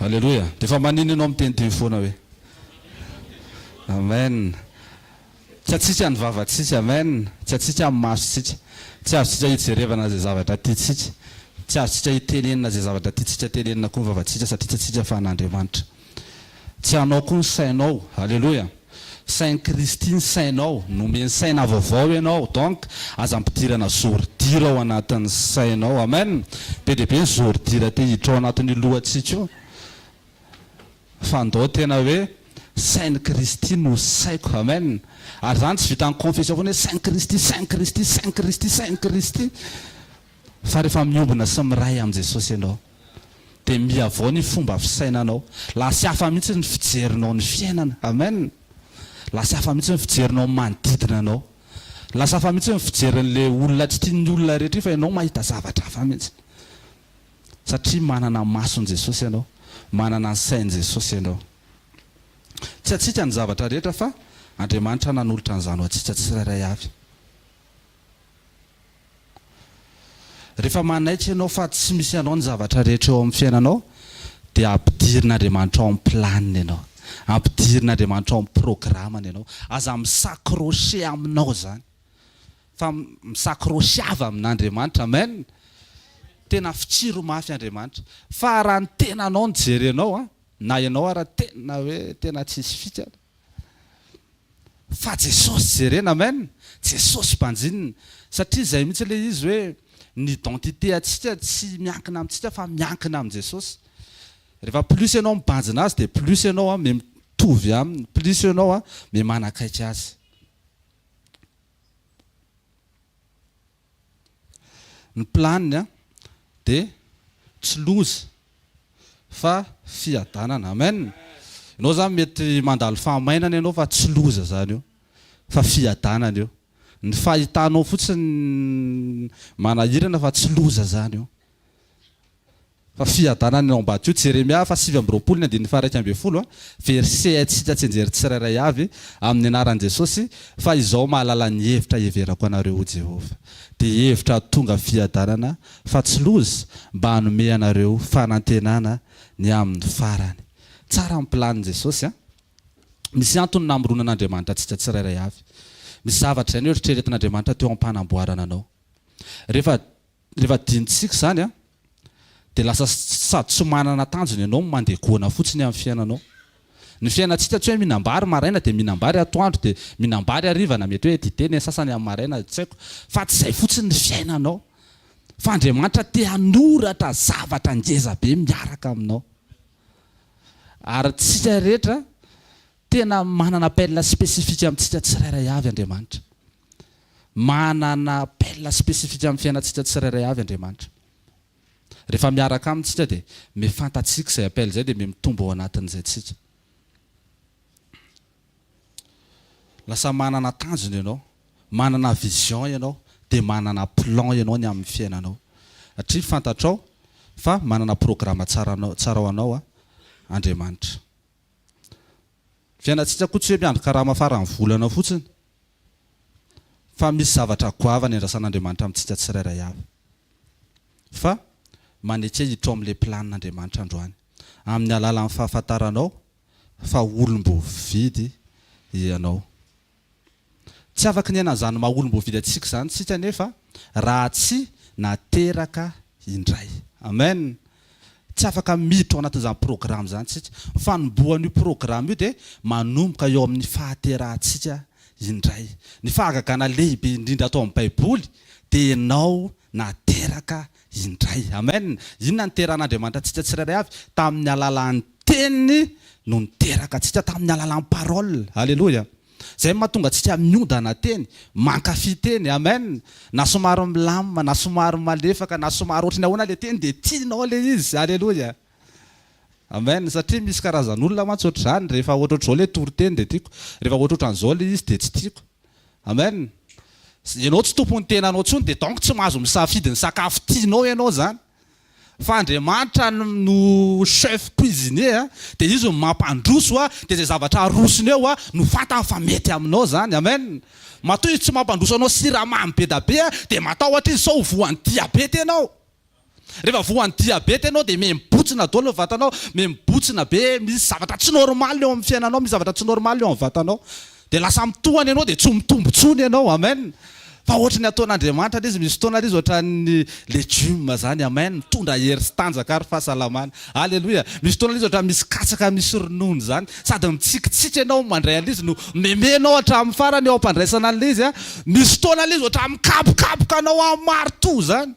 Aleloia. Dia efa manino ianao miteniteny foana hoe. Amen. Tsy atsika ny vavantsika. Amen. Tsy atsika ny masontsika. Tsy azontsika hijerevana izay zavatra tiantsika. Tsy azontsika hitenenina izay zavatra tiantsika tenenina koa ny vavantsika satria tsy atsika fa an'Andriamanitra. Tsy anao koa ny sainao. Aleloia. Sain'i Kristy ny sainao. Nomeny saina vaovao ianao. Donc, aza ampidirana zordira ao anatin'ny sainao. Amen. Be dia be ny zordira te hiditra ao anatin'io lohantsika io. Fa ndao tena hoe, Sain'i Kristy no saiko. Amen. Ary izany tsy vitan'ny confession foana hoe, Sain'i Kristy, Sain'i Kristy, Sain'i Kristy, Sain'i Kristy. Fa rehefa miombona sy miray amin'i Jesosy ianao. dia mihavao ny fomba fisainanao. Lasy hafa mihitsy ny fijerinao ny fiainana. Amen! Lasy hafa mihitsy ny fijerinao ny manodidina anao. Lasy hafa mihitsy ny fijerin'ilay olona tsy tian'ny olona rehetra iny fa ianao mahita zavatra hafa mihitsy. Satria manana ny mason'i Jesosy ianao, manana ny sain'i Jesosy ianao. Tsy antsika ny zavatra rehetra fa Andriamanitra nanolotra an'izany ho antsika tsirairay avy. Rehefa manaiky ianao fa tsy misy anao ny zavatra rehetra eo amin'ny fiainanao dia ampidirin'Andriamanitra ao amin'ny planiny ianao. Ampidirin'Andriamanitra ao amin'ny programany ianao. Aza mi-s'accrocher aminao izany fa mi-s'accrocheava amin'Andriamanitra. Amen! Tena fitsiro mafy Andriamanitra. Fa raha ny tenanao no jerenao, na ianao ara tena hoe tena tsisy fika, Fa Jesosy jerena amen! Jesosy banjinina! Satria izay mihitsy ilay izy hoe ny identité antsika tsy miankina amintsika fa miankina amin'i Jesosy! Rehefa plus ianao mibanjina Azy dia plus ianao an mitovy Aminy, plus ianao an mimanakaiky Azy. Ny planiny dia tsy loza fa fiadanana. Amen. Ianao izany mety mandalo fahamainana ianao fa tsy loza izany io fa fiadanana io. Ny fahitanao fotsiny manahirana fa tsy loza izany io. Fa fiadanana eo ambadika io, Jeremia faha sivy amby roapolo ny andininy faha iraika ambin'ny folo, verset Haintsika tsy hianjery tsirairay avy amin'ny anaran'i Jesosy, fa izao mahalala ny hevitra hiheverako anareo hoy Jehovah, dia hevitra hahatonga fiadanana, fa tsy loza, mba hanome anareo fanantenana ny amin'ny farany. Tsara ny planin'i Jesosy an! Misy antony namoronan'Andriamanitra antsika tsirairay avy. Misy zavatra izay noeritreretin'Andriamanitra teo am-panamboarana anao. Rehefa, rehefa adinontsika izany an! dia lasa sady tsy manana tanjona ianao no mandeha goana fotsiny amin'ny fiainanao. Ny fiainantsika tsy hoe mihinam-bary maraina dia mihinam-bary atoandro dia mihinam-bary hariva na mety hoe dite ny sasany amin'ny maraina tsy haiko fa tsy izay fotsiny ny fiainanao fa Andriamanitra te hanoratra zavatra ngeza be miaraka aminao ary tsika rehetra tena manana appel spécifique amintsika tsirairay avy Andriamanitra. Manana appel spécifique amin'ny fiainantsika tsirairay avy Andriamanitra. Rehefa miaraka Aminy tsika dia miha fantatsika izay appel izay dia miha mitombo ao anatin'izay tsika. Lasa manana tanjona ianao, manana vision ianao, dia manana plan ianao ny amin'ny fiainanao. Satria fantatrao fa manana programa tsara anao, tsara ho anao Andriamanitra. Ny fiainantsika koa tsy hoe miandry karama faran'ny volana fotsiny. fa misy zavatra goavana iandrasan'Andriamanitra amintsika tsirairay avy fa maneke hiditra ao amin'ilay planin'Andriamanitra androany amin'ny alalan'ny fahafantaranao fa olom-boavidy ianao. Tsy afaka ny hiaina an'izany maha olom-boavidy antsika izany isika anefa raha tsy nateraka indray. Amen! Tsy afaka miditra ao anatin'izany programa izany isika. Ny fanombohan'io programa io dia manomboka eo amin'ny fahaterahantsika indray. Ny fahagagana lehibe indrindra ato amin'ny Baiboly dia ianao nateraka indray. Amen! Inona no niteran'Andriamanitra antsika tsirairay avy? Tamin'ny alalan'ny Teniny no niteraka antsika, tamin'ny alalan'ny Parole. Aleloia! Izay mahatonga antsika miodana teny, mankafy teny. Amen! Na somary milamina, na somary malefaka, na somary ohatry ny ahoana ilay teny dia tianao ilay izy. Aleloia! Amen! Satria misy karazan'olona mantsy ohatr'izany, rehefa ohatrohatr'izao ilay toriteny dia tiako, rehefa ohatrohatran'izao ilay izy dia tsy tiako. Amen! Ianao tsy tompon'ny tenanao intsony dia donc tsy mahazo misafidy ny sakafo tianao ianao izany. fa Andriamanitra no chef cuisinier a, dia Izy no mampandroso a, dia izay zavatra arosony eo a, no fantany fa mety aminao izany. Amen. Matoa Izy tsy mampandroso anao siramamy be da be a, dia matahotra Izy sao ho voan'ny diabeta ianao. Rehefa voan'ny diabeta ianao dia mihembotsina daholo ny vatanao, mihembotsina be, misy zavatra tsy normal eo amin'ny fiainanao, misy zavatra tsy normal eo amin'ny vatanao. Dia lasa mitohana ianao dia tsy mitombo intsony ianao. Amen. Fa ohatry ny ataon'Andriamanitra ilay izy, misy fotoana ary izy ohatran'ny legioma izany. Amen. Mitondra hery sy tanjaka ary fahasalamana. Aleloia. Misy fotoana ilay izy ohatran'ny misy katsaka misy ronono izany. Sady mitsikintsiky ianao mandray an'ilay izy no mihomehy ianao hatramin'ny farany eo am-pandraisana an'ilay izy. Misy fotoana ilay izy ohatran'ny mikapokapoka anao amin'ny maritoa izany.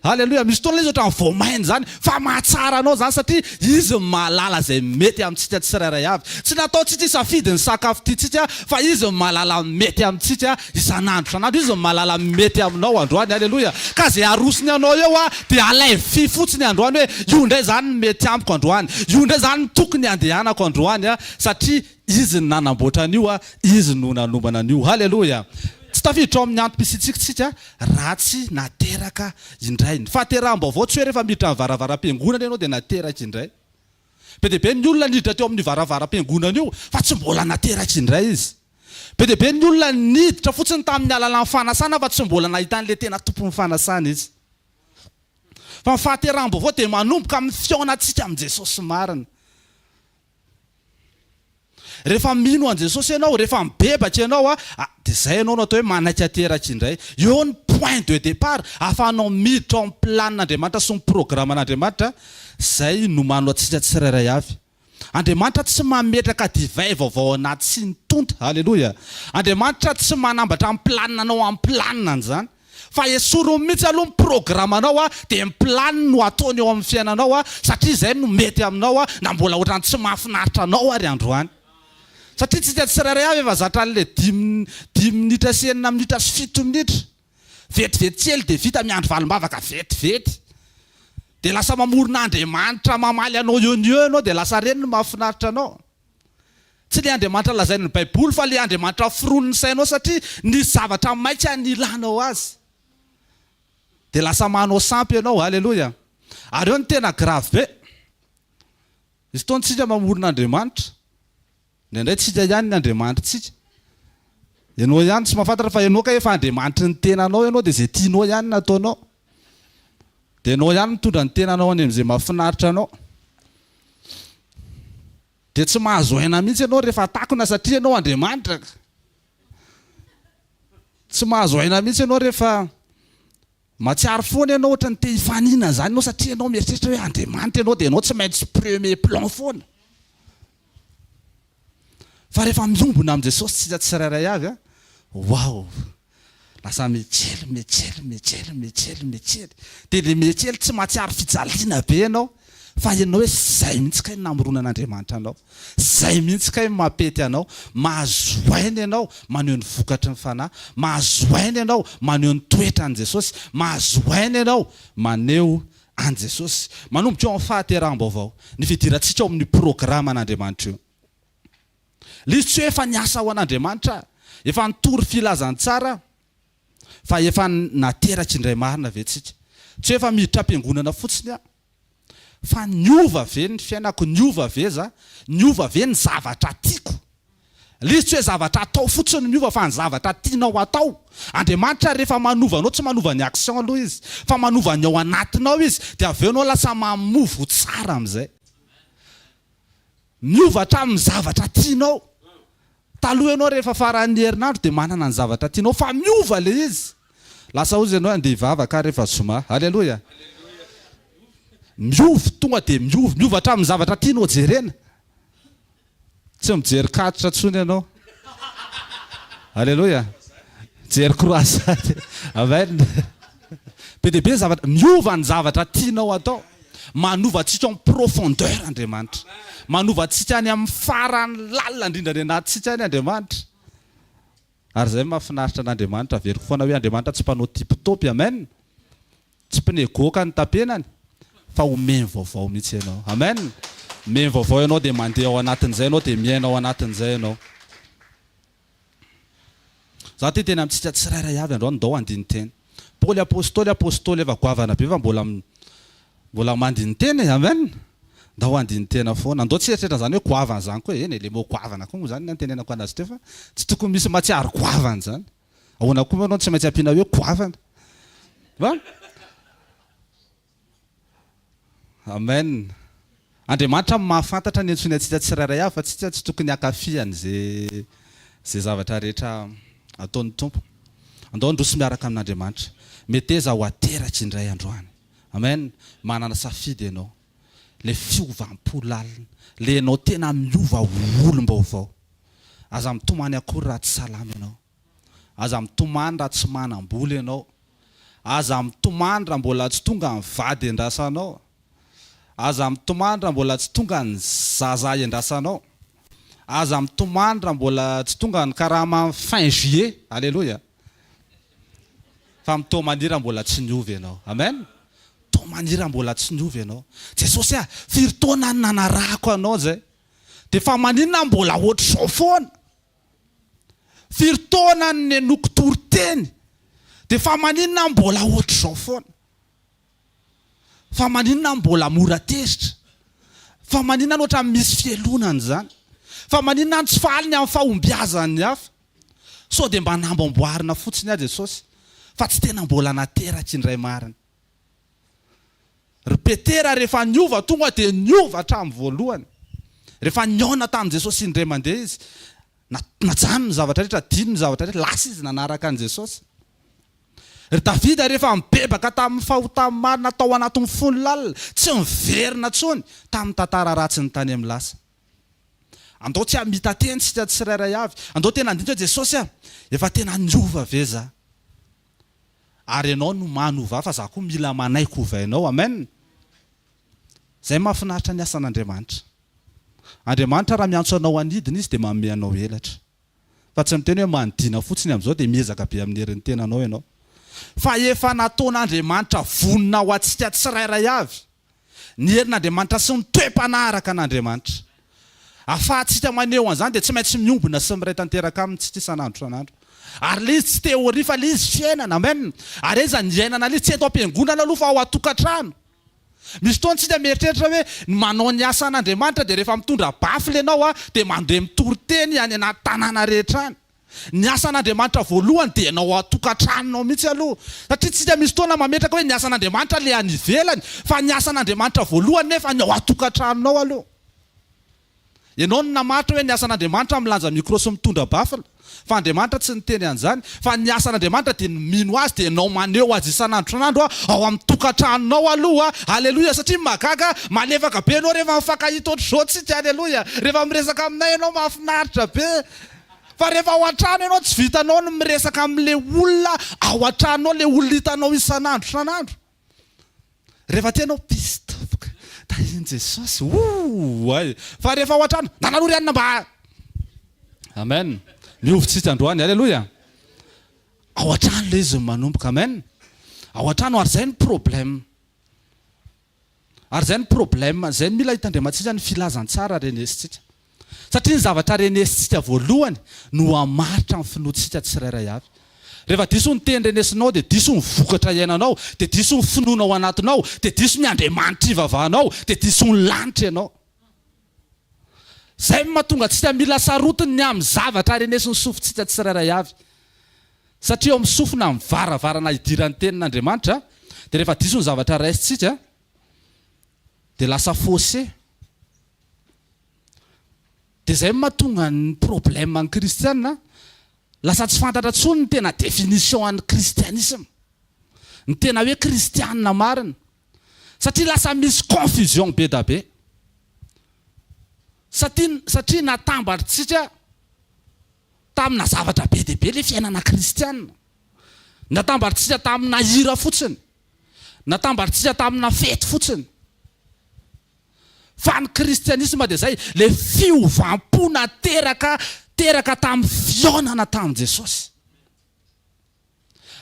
Aleloia, misy fotoana ilay izy ohatran'ny vao maina izany, fa mahatsara anao izany satria izy no mahalala izay mety amintsika tsirairay avy. Tsy nataontsika hisafidy ny sakafo tiantsika fa izy no mahalala ny mety amintsika isan'andro isan'andro. Izy no mahalala ny mety aminao androany. Aleloia. Ka izay arosony anao eo dia alaivo fotsiny androany hoe io indray izany no mety amiko androany, io indray izany no tokony handehanako androany satria. Izy no nanamboatra an'io, Izy no nanombana an'io. Haleloia! Tsy tafiditra ao amin'ny antom-pisiantsika isika raha tsy nateraka indray. Ny fahateraham-baovao tsy hoe rehefa miditra amin'ny varavaram-piangonana ianao dia nateraka indray. Be dia be ny olona niditra teo amin'io varavaram-piangonana io fa tsy mbola nateraka indray izy. Be dia be ny olona niditra fotsiny tamin'ny alalan'ny fanasana fa tsy mbola nahita an'ilay tena Tompon'ny fanasana izy. Fa ny fahateraham-baovao dia manomboka amin'ny fihaonantsika amin'i Jesosy marina. Rehefa mino an'i Jesosy ianao, rehefa mibebaka ianao, dia izay ianao no atao hoe manaiky ateraka indray. Eo ny point de départ, ahafahanao miditra ao amin'ny planin'Andriamanitra sy ny programan'Andriamanitra, izay nomano antsika tsirairay avy. Andriamanitra tsy mametraka divay vaovao anaty siny tonta. Aleloia! Andriamanitra tsy manambatra ny planinanao amin'ny planinany izany. Fa esoriny mihitsy aloha ny programanao dia ny planiny no ataony eo amin'ny fiainanao satria izay no mety aminao na mbola ohatran'ny tsy mahafinaritra anao ary androany. Satria tsika tsirairay avy efa zatra an'ilay dimy dimy minitra sy enina minitra sy fito minitra. Vetivety kely dia vita miandry valim-bavaka vetivety. Dia lasa mamorona Andriamanitra mamaly anao eo no eo ianao dia lasa reny ny mahafinaritra anao. Tsy ilay Andriamanitra lazain'ny Baiboly fa ilay Andriamanitra foronin'ny sainao satria nisy zavatra maika nilanao azy. Dia lasa manao sampy ianao. Aleloia. Ary eo ny tena grave be. Misy fotoana isika mamorona Andriamanitra. Indraindray tsika ihany ny Andriamanitritsika. Ianao ihany tsy mahafantatra fa ianao kay efa Andriamanitry ny tenanao ianao dia izay tianao ihany no ataonao. Dia enao ihany mitondra ny tenanao any amin'izay mahafinaritra anao. Dia tsy mahazo aina mihitsy ianao rehefa takona satria ianao Andriamanitra. Tsy mahazo aina mihitsy ianao rehefa mahatsiaro foana ianao ohatra ny te hifanina izany ianao satria ianao mieritreritra hoe Andriamanitra ianao dia ianao tsy maintsy premier plan foana. Fa rehefa miombona amin'i Jesosy isika tsirairay avy an, waouh! Lasa mihetsely, mihetsely, mihetsely, mihetsely, mihetsely. Dia ilay mihetsely tsy mahatsiaro fijaliana be ianao fa hainao hoe izay mihitsy kay no namoronan'Andriamanitra anao. Izay mihitsy kay no mampety anao. Mahazo aina ianao maneho ny vokatry ny Fanahy. Mahazo aina ianao maneho ny toetran'i Jesosy. Mahazo aina ianao maneho an'i Jesosy, manomboka eo amin'ny fahateraham-baovao, ny fidirantsika ao amin'ny programan'Andriamanitra io. Lisy tsy hoe efa niasa ho an'Andriamanitra, efa nitory filazantsara, fa efa nateraka indray marina ve tsika? Tsy hoe efa miditra am-piangonana fotsiny aho, fa niova ve ny fiainako, niova ve za, niova ve ny zavatra tiako? List tsy hoe zavatra atao fotsiny no miova fa ny zavatra tianao hatao. Andriamanitra rehefa manova anao tsy manova ny action aloha izy fa manova ny ao anatinao izy dia avy eo enao lasa mamovo ho tsara amin'izay. Miova hatramin'ny zavatra tianao. Taloha enao rehefa faran'ny herinandro dia manana ny zavatra tianao fa miova ilay izy. Lasa ozy enao andeha hivavaka rehefa zoma. Aleloia. Miova tonga dia miova. Miova hatramin'ny zavatra tianao jerena. Tsy mijery catch tsony ianao. Aleloia. Mijery croisade. Amen. Be dia be ny zavatra, miova ny zavatra tianao atao. Manova antsika en profondeur Andriamanitra. Manova antsika any amin'ny farany lalina indrindra any anatintsika any Andriamanitra. Ary izay no mahafinaritra an'Andriamanitra. Averiko foana hoe Andriamanitra tsy mpanao tipy topy. Amen. Tsy pneu goaka ny tapenany fa omeny vaovao mihitsy ianao. Amen! Omeny vaovao ianao dia mandeha ao anatin'izay ianao dia miaina ao anatin'izay ianao. Za te hiteny amintsika tsirairay avy androany ndao handini-tena. Paoly apostoly apostoly efa goavana be fa mbola mbola mandini-tena e! Amen! Ndao handini-tena foana. Ndao tsy hieritreritra an'izany hoe goavana izany koa. Eny e, le mot goavana koa moa izany ny antenenako anazy teo fa tsy tokony misy matsiaro goavana izany. Ahoana koa moa ianao no tsy maintsy ampiana hoe goavana? Va? Amen. Andriamanitra no mahafantatra ny antsoiny antsika tsirairay avy fa tsika tsy tokony hankafy an'izay izay zavatra rehetra ataon'ny Tompo. Andao handroso miaraka amin'Andriamanitra. Meteza ho ateraky indray androany. Amen. Manana safidy ianao. ilay fiovam-po lalina, ilay ianao tena miova ho olom-baovao. Aza mitomany akory raha tsy salama ianao. Aza mitomany raha tsy manam-bola ianao. Aza mitomany raha mbola tsy tonga ny vady iandrasanao. Aza mitomany raha mbola tsy tonga ny zaza iandrasanao. Aza mitomany raha mbola tsy tonga ny karaman'ny fin juillet. Aleloia! Fa mitoa maniry raha mbola tsy niova ianao. Amen. Mitoa maniry raha mbola tsy niova ianao. Jesosy ah, firy taona no nanarahako Anao zay, dia fa maninona aho mbola hoatr'izao foana? Firy taona no nenoiko toriteny, dia fa maninona aho mbola hoatr'izao foana? Fa maninona aho mbola mora tezitra? Fa maninona aho ohatran'ny misy fialonana izany? Fa maninona aho tsy faly ny amin'ny fahombiazan'ny hafa? Sao dia mba namboamboarina fotsiny aho Jesosy fa tsy tena mbola nateraky indray marina. Ry Petera rehefa niova tonga dia niova hatramin'ny voalohany. Rehefa nihaona tamin'i Jesosy indray mandeha izy, najanony ny zavatra rehetra, adinony ny zavatra rehetra, lasa izy nanaraka an'i Jesosy. Ry Davida rehefa nibebaka tamin'ny fahotany maro natao anatin'ny fony lalina, tsy niverina intsony tamin'ny tantara ratsiny tany amin'ny lasa. Andao tsy hamita teny isika tsirairay avy. Andao tena handinika hoe, Jesosy a, efa tena niova ve za? Ary Ianao no manova ahy fa za koa mila manaiky hovainao. Amen! Izay mahafinaritra ny asan'Andriamanitra. Andriamanitra raha miantso anao hanidina Izy dia manome anao elatra. Fa tsy miteny hoe manidina fotsiny amin'izao dia miezaka be amin'ny herin'ny tenanao ianao. Fa efa nataon'Andriamanitra vonona ho antsika tsirairay avy. ny herin'Andriamanitra sy ny toe-panahy araka an'Andriamanitra. Ahafahantsika maneho an'izany dia tsy maintsy miombona sy miray tanteraka aminy isika isan'andro isan'andro. Ary ilay izy tsy teoria fa ilay izy fiainana. Amen. Ary aiza ny iainana ilay izy? Tsy eto am-piangonana aloha fa ao an-tokantrano. Misy fotoana isika mieritreritra hoe ny manao ny asan'Andriamanitra dia rehefa mitondra bafle ianao dia mandeha mitory teny any anaty tanàna rehetra any. Ny asan'Andriamanitra voalohany dia ny ao an-tokantranonao mihitsy aloha. Satria tsika misy fotoana mametraka hoe ny asan'Andriamanitra ilay any ivelany, fa ny asan'Andriamanitra voalohany nefa ny ao an-tokantranonao aloha. Ianao no namaritra hoe ny asan'Andriamanitra milanja micro sy mitondra baffle, fa Andriamanitra tsy niteny an'izany, fa ny asan'Andriamanitra dia ny mino Azy dia ianao maneho Azy isan'andron'andro ao amin'ny tokantranonao aloha. Aleloia! Satria mahagaga, malefaka be ianao rehefa mifankahita ohatr'izao tsika. Aleloia! Rehefa miresaka aminay ianao mahafinaritra be. Fa rehefa ao an-trano ianao tsy vitanao ny miresaka amin'ilay olona ao an-tranonao, ilay olona hitanao isan'andro isan'andro. Rehefa aty ianao piste foka, tahin'i Jesosy ooay. Fa rehefa ao an-trano, nana aloha ry anona mba. Amen. Mihovy tsitsy androany. Aleloia. Ao an-trano ilay izy no manomboka. Amen. Ao an-trano ary izay no problème. Ary izay no problème, izay no mila hitandremantsika ny filazantsara renesintsika. Satria ny zavatra renesintsika voalohany no hamaritra ny finoantsika tsirairay avy. Rehefa diso ny teny renesinao dia diso ny vokatra iainanao, dia diso ny finoana ao anatinao, dia diso ny Andriamanitra ivavahanao, dia diso ny lanitra ianao. Izay no mahatonga antsika mila sarotiny ny amin'ny zavatra arenesin'ny sofintsika tsirairay avy. Satria eo amin'ny sofina amin'ny varavarana hidiran'ny Tenin'Andriamanitra, dia rehefa diso ny zavatra raisintsika, dia lasa faussé. Dia izay no mahatonga ny problème ny kristiana, lasa tsy fantatra intsony ny tena définition an'ny kristianisme, ny tena hoe kristiana marina. satria lasa misy confusion be da be satria natambatrtsika tamina zavatra be dia be le fiainana kristiana, natambatrtsika tamina hira fotsiny, natambatrtsika tamina fety fotsiny, fa ny kristianisma dia zay, le fiovam-po nateraka teraka tamin'ny fihaonana tamin'i Jesosy.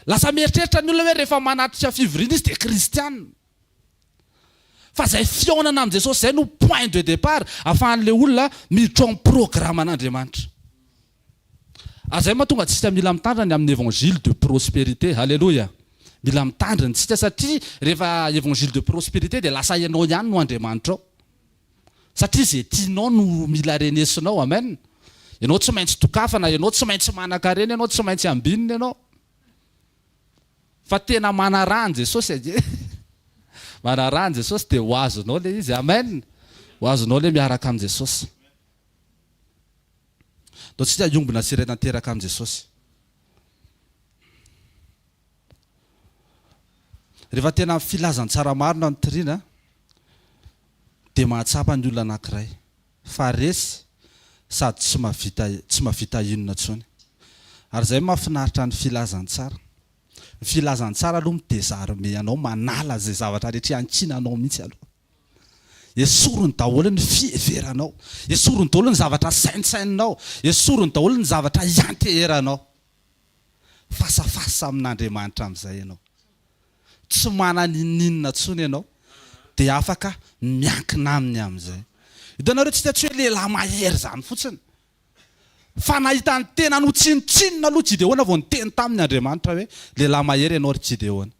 Lasa mieritreritra ny olona hoe rehefa manatrika fivoriana izy dia kristiana. Fa izay fihaonana amin'i Jesosy izay no point de départ ahafahan'ilay olona miditra ao amin'ny programan'Andriamanitra. Ary izay mahatonga antsika mila mitandrina ny amin'ny évangile de prospérité. Haleloia! Mila mitandrina isika satria rehefa évangile de prospérité dia lasa ianao ihany no Andriamanitrao. Satria izay tianao no mila renesinao. Amen. Ianao tsy maintsy dokafana, ianao tsy maintsy manankarena, ianao tsy maintsy ambinina ianao. Fa tena manaraha an'i Jesosy ange. Manaraha an'i Jesosy dia ho azonao ilay izy. Amen. Ho azonao ilay miaraka amin'i Jesosy. Ataontsika hiombona sy iray tanteraka amin'i Jesosy. Rehefa tena amin'ny filazantsara marina ny tirina dia mahatsapa ny olona anankiray fa resy sady tsy mahavita tsy mahavita inona intsony. Ary izay no mahafinaritra ny filazantsara. Ny filazantsara aloha mi-desarmer anao, manala izay zavatra rehetra iankinanao mihitsy aloha. Esoriny daholo ny fiheveranao, esoriny daholo ny zavatra sainsaininao, esoriny daholo ny zavatra ianteheranao. Face à face amin'Andriamanitra amin'izay ianao. Tsy manana inon'inona intsony ianao dia afaka miankina Aminy amin'izay. Hitanareo, tsy tiantsika hoe lehilahy mahery izany fotsiny. Fa nahita ny tenany ho tsinontsinona aloha Gideona vao niteny taminy Andriamanitra hoe, lehilahy mahery ianao ry Gideona.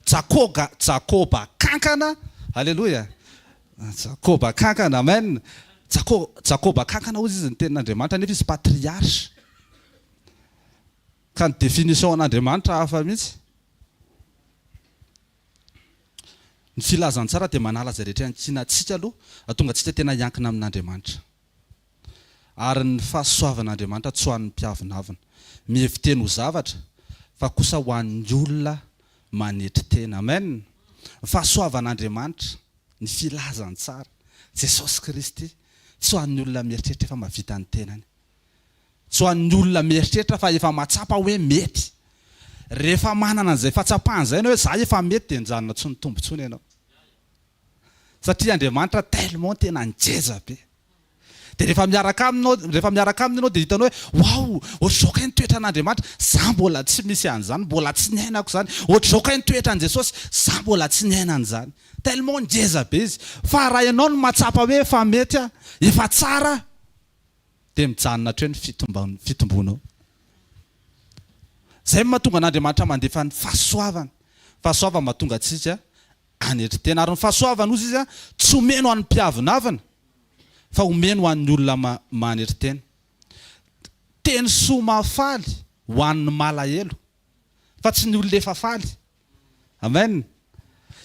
Jakoga, Jakoba kankana, Aleloia, Jakoba kankana, Amen, Jako, Jakoba kankana hozy izy ny tenin'Andriamanitra nefa izy patriarche, ka ny définition an'Andriamanitra hafa mihitsy. Ny filazantsara dia manala izay rehetra iankinantsika aloha, hahatonga antsika tena hiankina amin'Andriamanitra. ary ny fahasoavan'Andriamanitra tsy ho an'ny mpiavonavona, mihevi-teny ho zavatra, fa kosa ho an'ny olona manetry tena. Amen! Ny fahasoavan'Andriamanitra, ny filazantsara, Jesosy Kristy, tsy ho an'ny olona mieritreritra efa mahavita ny tenany. Tsy ho an'ny olona mieritreritra fa efa mahatsapa hoe mety. Rehefa manana an'izay fahatsapana izay ianao hoe za efa mety dia nijanona tsy nitombo intsony ianao. satria Andriamanitra tellement tena ngeja be de rehefa miaraka aminy enao rehefa miaraka aminy enao de hitanao hoe waouh ohatr'izao kay ny toetran'Andriamanitra za mbola tsy misy an'izany mbola tsy niainako izany ohatr'izao kay ny toetran'i Jesosy za mbola tsy niaina an'izany tellement ngeza be izy fa raha enao no mahatsapa hoe efa mety a efa tsara de mijanona hatreo ny fitomban- fitombonao zay mahatonga an'Andriamanitra mandefa ny fahasoavany fahasoavany mahatonga antsika anetry tena, ary ny fahasoavany hozy izy tsy omeny ho an'ny mpiavonavina fa omeny ho an'ny olona manetry tena, teny soa mahafaly ho an'ny malahelo fa tsy ny olona efa faly. Amen.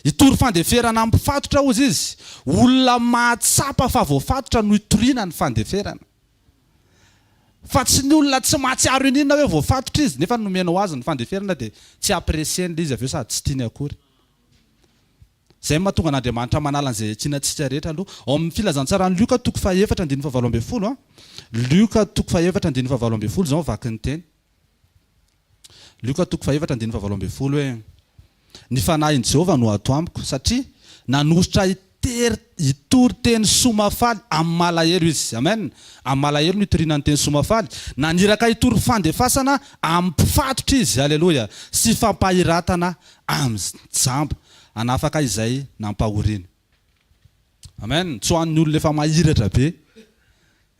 Hitory fandeferana amin'ny mpifatotra hozy izy, olona mahatsapa fa voafatotra no hitoriana ny fandeferana, fa tsy ny olona tsy mahatsiaro iniana hoe voafatotra izy nefa ny nomena ho azy ny fandeferana dia tsy apprécier-ny ilay izy avy eo sady tsy tiany akory. Izay no mahatonga an'Andriamanitra manala an'izay hiatsiana antsika rehetra aloha. Ao amin'ny Filazantsaran'i Lioka toko fahefatra andininy fahavalo ambin'ny folo, Lioka toko fahefatra andininy fahavalo ambin'ny folo izao ny vaky ny teny, Lioka toko fahefatra andininy fahavalo ambin'ny folo hoe, Ny fanahin'i Jehovah no ato amiko, satria nanositra ahy Tery hitory teny soa mahafaly amin'ny malahelo izy. Amen! Amin'ny malahelo no itoriana ny teny soa mahafaly. Naniraka hitory fandefasana amin'ny mpifatotra izy, aleloia, sy fampahiratana amin'ny jamba, hanafaka izay nampahoriany. Amen! Tsy ho an'ny olona efa mahiratra be.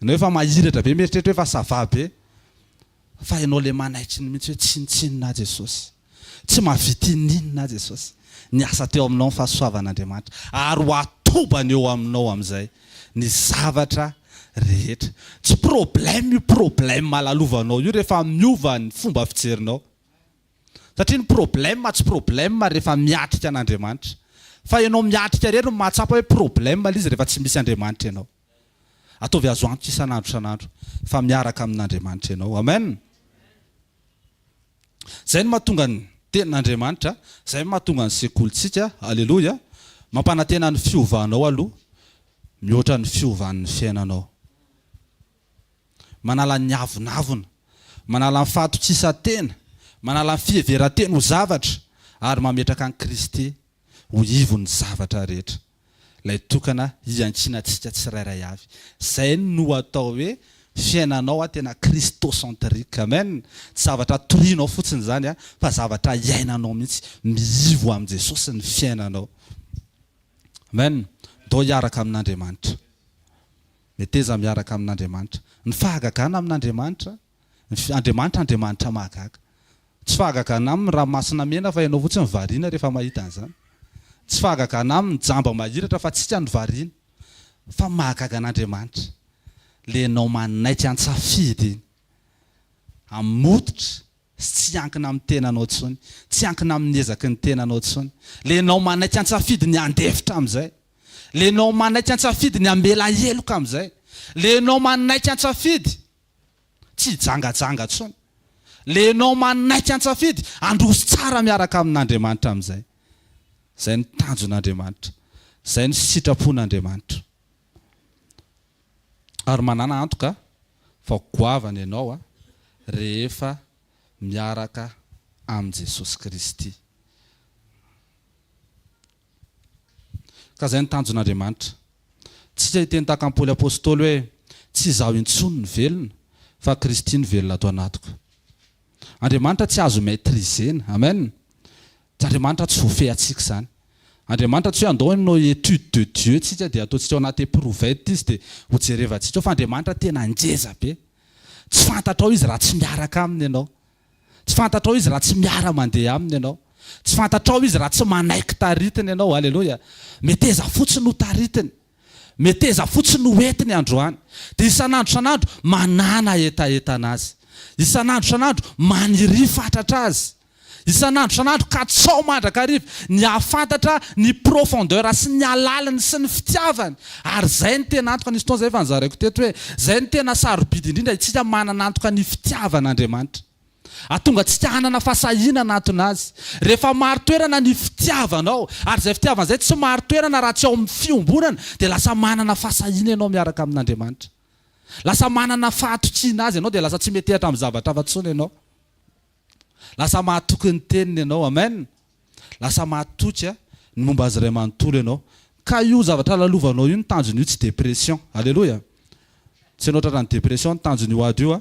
Enao efa mahiratra be mieritreritra hoe fa ça va be fa enao le manaitry ny mintsy hoe tsinontsinona aho Jesosy tsy mahavita ininona aho Jesosy ny asa teo aminao ny fahasoavan'Andriamanitra ary ho atobany eo aminao amizay ny zavatra rehetra tsy problème io problème alalovanao io rehefa miova ny fomba fijerinao satria ny problème tsy problème rehefa miatrika an'Andriamanitra fa enao miatrika irery no mahatsapa hoe problème le izy rehefa tsy misy Andriamanitra enao. Ataovy azo antoka isan'andro isan'andro fa miaraka amin'Andriamanitra ianao. Amen! Izay no mahatonga ny Tenin'Andriamanitra, izay no mahatonga ny sekolintsika. Aleloia! Mampanantena ny fiovanao aloha, mihoatra ny fiovan'ny fiainanao. Manala ny avonavona, manala ny fahatokisan-tena, manala ny fiheveran-tena ho zavatra ary mametraka an'i Kristy ho ivon'ny zavatra rehetra. Ilay tokana iankinantsika tsirairay avy. Izay no atao hoe fiainanao tena christocentrique. Amen! Tsy zavatra torianao fotsiny izany fa zavatra iainanao mihitsy. Mihivo amin'i Jesosy ny fiainanao. Amen! Ndao hiaraka amin'Andriamanitra. Meteza miaraka amin'Andriamanitra. Ny fahagagana amin'Andriamanitra Ny Andriamanitra Andriamanitra mahagaga. Tsy fahagagana aminy ranomasina mena fa ianao fotsiny variana rehefa mahita an'izany. Tsy fahagagana aminy jamba mahiratra fa tsika no variana. Fa mahagaga an'Andriamanitra. Ilay ianao manaiky an-tsafidy iny. Hamototra sy tsy hiankina amin'ny tenanao intsony. Tsy hiankina amin'ny ezaky ny tenanao intsony. Ilay ianao manaiky an-tsafidy ny handefitra amin'izay. Ilay ianao manaiky an-tsafidy ny hamela heloka amin'izay. Ilay ianao manaiky an-tsafidy Tsy hijangajanga intsony. Ilay ianao manaiky an-tsafidy, handroso tsara miaraka amin'Andriamanitra amin'izay. Izay no tanjon'Andriamanitra. Izay no sitrapon'Andriamanitra. Ary manàna antoka fa ho goavana ianao rehefa miaraka amin'i Jesosy Kristy. Ka izay no tanjon'Andriamanitra. Tsika hiteny tahaka an'i Paoly Apostoly hoe, Tsy izaho intsony no velona, fa Kristy no velona ato anatiko. Andriamanitra tsy azo maîtriser-na. Amen. Tsy Andriamanitra tsy voafehy antsika izany. Andriamanitra tsy hoe andao hanao étude de Dieu tsika dia ataontsika ao anaty eprouvette izy dia hojerevantsika ao fa Andriamanitra tena ngeza be. Tsy fantatrao izy raha tsy miaraka aminy ianao. Tsy fantatrao Izy raha tsy miara-mandeha Aminy ianao. Tsy fantatrao Izy raha tsy manaiky taritiny ianao. Aleloia! Meteza fotsiny ho taritiny. Meteza fotsiny ho entiny androany. Dia isan'andro isan'andro manàna hetahetana Azy. Isan'andro isan'andro maniria fatratra Azy. Isan'andro isan'andro katsao mandrakariva ny hahafantatra ny profondeur sy ny halaliny sy ny fitiavany Ary izay no tena antoka nisy fotoana izay efa nozaraiko teto hoe, izay no tena sarobidy indrindra isika manana antoka ny fitiavan'Andriamanitra. Hahatonga antsika hanana fahasahiana hanatona Azy. Rehefa marin-toerana ny fitiavanao, ary izay fitiavana izay tsy marin-toerana raha tsy ao amin'ny fiombonana, dia lasa manana fahasahiana ianao miaraka amin'Andriamanitra. Lasa manana fahatokiana Azy ianao, dia lasa tsy metehatra amin'ny zavatra hafa intsony ianao. Lasa mahatoky ny teniny ianao. Amen. Lasa mahatoky ny momba Azy Ray manontolo ianao. Ka io zavatra lalovanao io ny tanjony io tsy depression. Aleloia. Tsy ianao tratra ny depression ny tanjony io ady io a.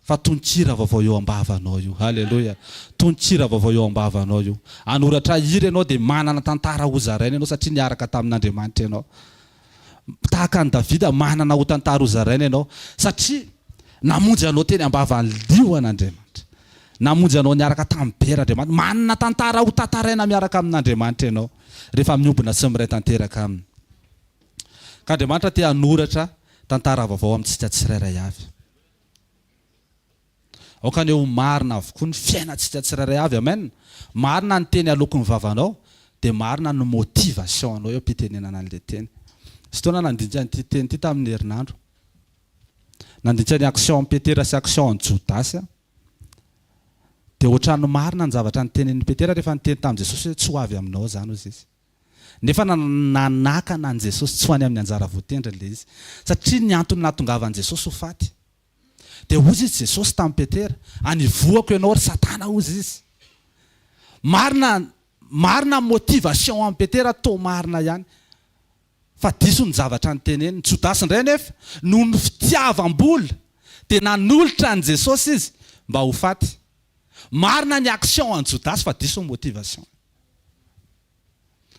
Fa tononkira vaovao eo ambavanao io. Aleloia. Tononkira vaovao eo ambavanao io. Hanoratra hira ianao dia manana tantara hozaraina ianao satria niaraka tamin'Andriamanitra ianao. tahaka an'i Davida, manana ho tantara hozaraina ianao, satria namonjy anao teny am-bavan'ny liona Andriamanitra. Namonjy anao niaraka tamin'ny bera Andriamanitra. Manana tantara ho tantaraina miaraka amin'Andriamanitra ianao, rehefa miombona sy miray tanteraka Aminy. Ka Andriamanitra te hanoratra tantara vaovao amintsika tsirairay avy. Aoka anie ho marina avokoa ny fiainantsika tsirairay avy amen! Marina ny teny aloky ny vavanao dia marina ny motive asehonao eo am-pitenenana an'ilay teny. Nisy fotoana aho nandinika an'ity teny ity tamin'ny herinandro. Nandinika ny action an'i Petera sy action an'i Jodasy aho. Dia ohatran'ny marina ny zavatra notenenin'i Petera rehefa niteny tamin'i Jesosy hoe tsy ho avy aminao izany hozy izy. Nefa nanakana an'i Jesosy tsy ho any amin'ny anjara voatendriny ilay izy. Satria ny antony nahatongavan'i Jesosy ho faty. Dia hozy izy Jesosy tamin'i Petera, Anivoako ianao ry Satana hozy izy. Marina, marina ny motivation an'i Petera, toa marina ihany. Fa diso ny zavatra noteneniny. Jodasy indray anefa, noho ny fitiavam-bola, dia nanolotra an'i Jesosy izy mba ho faty. Marina ny action an'i Jodasy fa diso ny motivation-ny.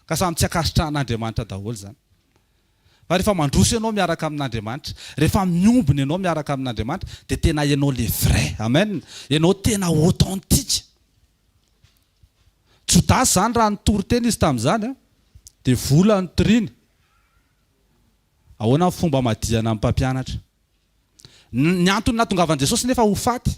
Ka samy tsy ankasitrahan'Andriamanitra daholo izany. Fa rehefa mandroso ianao miaraka amin'Andriamanitra, rehefa miombona ianao miaraka amin'Andriamanitra, dia tena ianao le vrai. Amen! Ianao tena authentique. Jodasy izany raha nitory tena izy tamin'izany an! Dia vola no toriany. Ahoana ny fomba amadihana ny mpampianatra? Ny antony nahatongavan'i Jesosy nefa ho faty.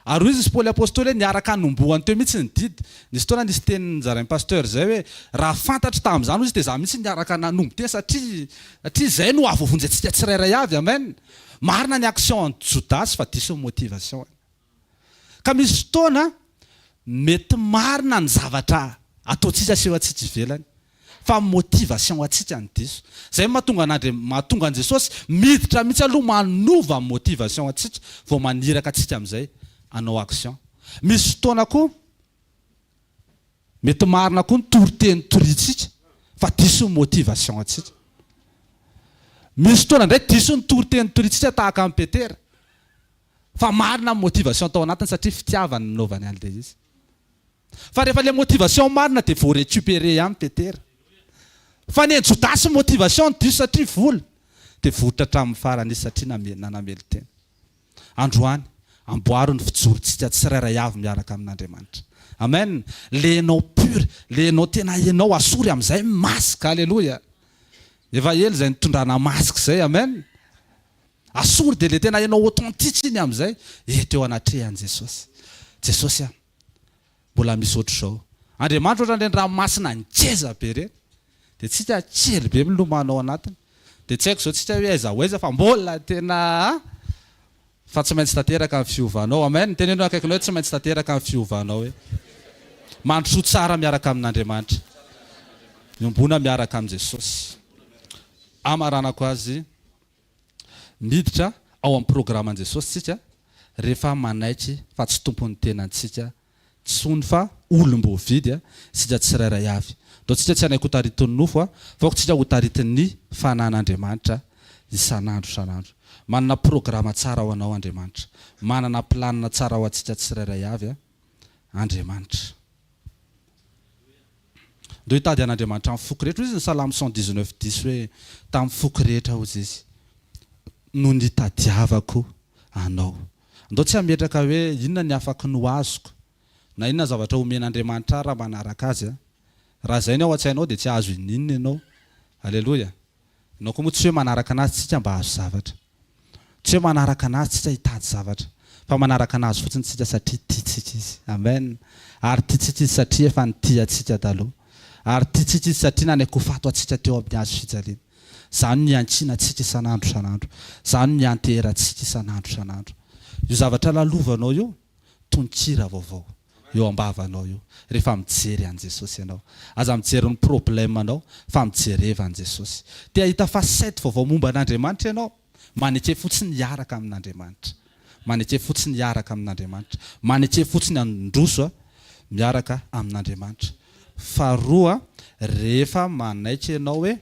Ary hoy izy sy Paoly Apostoly hoe niaraka hanombohany teo mihitsy ny didy. Nisy fotoana nisy teny nozarain'i Pasteur izay hoe, raha fantatro tamin'izany hoy izy dia izaho mihitsy niaraka nanombo teny satria satria izay no hahavoavonjy antsika tsirairay avy. Amen! Marina ny action an'i Jodasy fa diso ny motivation-ny. Ka misy fotoana mety marina ny zavatra ataontsika sy eo antsika ivelany fa motivation ho antsika ny diso. Izay mahatonga an'Andriam mahatonga an'i Jesosy miditra mihitsy aloha manova motivation antsika vao maniraka antsika amin'izay hanao action. Misy fotoana koa mety marina koa ny toriteny toriantsika fa diso ny motivation antsika. Misy fotoana indray diso ny toriteny toriantsika tahaka an'i Petera. Fa marina ny motivation tao anatiny satria fitiavany nanaovany an le izy. Fa rehefa le motivation marina de vo recuperer ihany Petera. Fa neny Jodasy motivation ny diso satria vola. De voritra hatramin'ny farany izy satria name nanamelon-tena. Androany, amboaro ny fijorontsika tsirairay avy miaraka amin'Andriamanitra. Amen! Le enao pur, le enao tena enao asory amin'izay ny masque. Aleloia! Efa ela izay nitondrana masque izay. Amen! Asori dia le tena enao authentique iny amizay eto eo anatrehan Jesosy. Jesosy a! Mbola misy otrzao. Andriamanitra otran'ireny ranomasina ngeza be ireny. Dia tsika kely be milomano ao anatiny. Dia tsy haiko zao tsika hoe aiza ho aiza fa mbola tena a! Fa tsy maintsy tanteraka ny fiovanao. Amen! Teneno eo akaikinao hoe tsy maintsy tanteraka ny fiovanao hoe. Mandrosoa tsara miaraka amin'Andriamanitra. Miombona miaraka amin'i Jesosy. Amaranako azy. Miditra ao amin'ny programan'i Jesosy isika rehefa manaiky fa tsy tompon'ny tenantsika intsony fa olom-boavidy isika tsirairay avy. Ataontsika tsy hanaiky ho taritin'ny nofo fa aokantsika ho taritin'ny fanan'Andriamanitra isan'andro isan'andro. Manana programa tsara ho anao Andriamanitra. Manana planina tsara ho antsika tsirairay avy. Andriamanitra. Ndeha hitady an'Andriamanitra amin'ny foko rehetra. Hoy izy ny Salamo cent dix neuf dix hoe, Tamin'ny foko rehetra, hoy Izy, no nitadiavako Anao. Andao tsy hametraka hoe, Inona ny afaky ny ho azoko? na Inona ny zavatra homen'Andriamanitra ahy raha manaraka Azy? Raha izay ny ao an-tsainao dia tsy hahazo inon'inona ianao. Aleloia. Ianao koa moa tsy hoe manaraka anazy tsika mba hahazo zavatra. Tsy hoe manaraka anazy tsika hitady zavatra. Fa manaraka anazy fotsiny tsika satria tiantsika izy. Amen. Ary tiantsika izy satria efa nitia antsika taloha. Ary tiantsika izy satria nanaiky ho fato antsika teo amin'ny hazo fijaliana. Izany no iankiana antsika isan'andro isan'andro. Izany no ianteherantsika isan'andro isan'andro. Io zavatra lalovanao io. tononkira vaovao eo ambavanao io rehefa mijery an'i Jesosy ianao. Aza mijery ny problème anao fa mijereva an'i Jesosy. Te hahita facette vaovao momba an'Andriamanitra ianao? Maneke fotsiny hiaraka amin'Andriamanitra. Maneke fotsiny hiaraka amin'Andriamanitra. Maneke fotsiny handroso miaraka amin'Andriamanitra. Faharoa, rehefa manaiky ianao hoe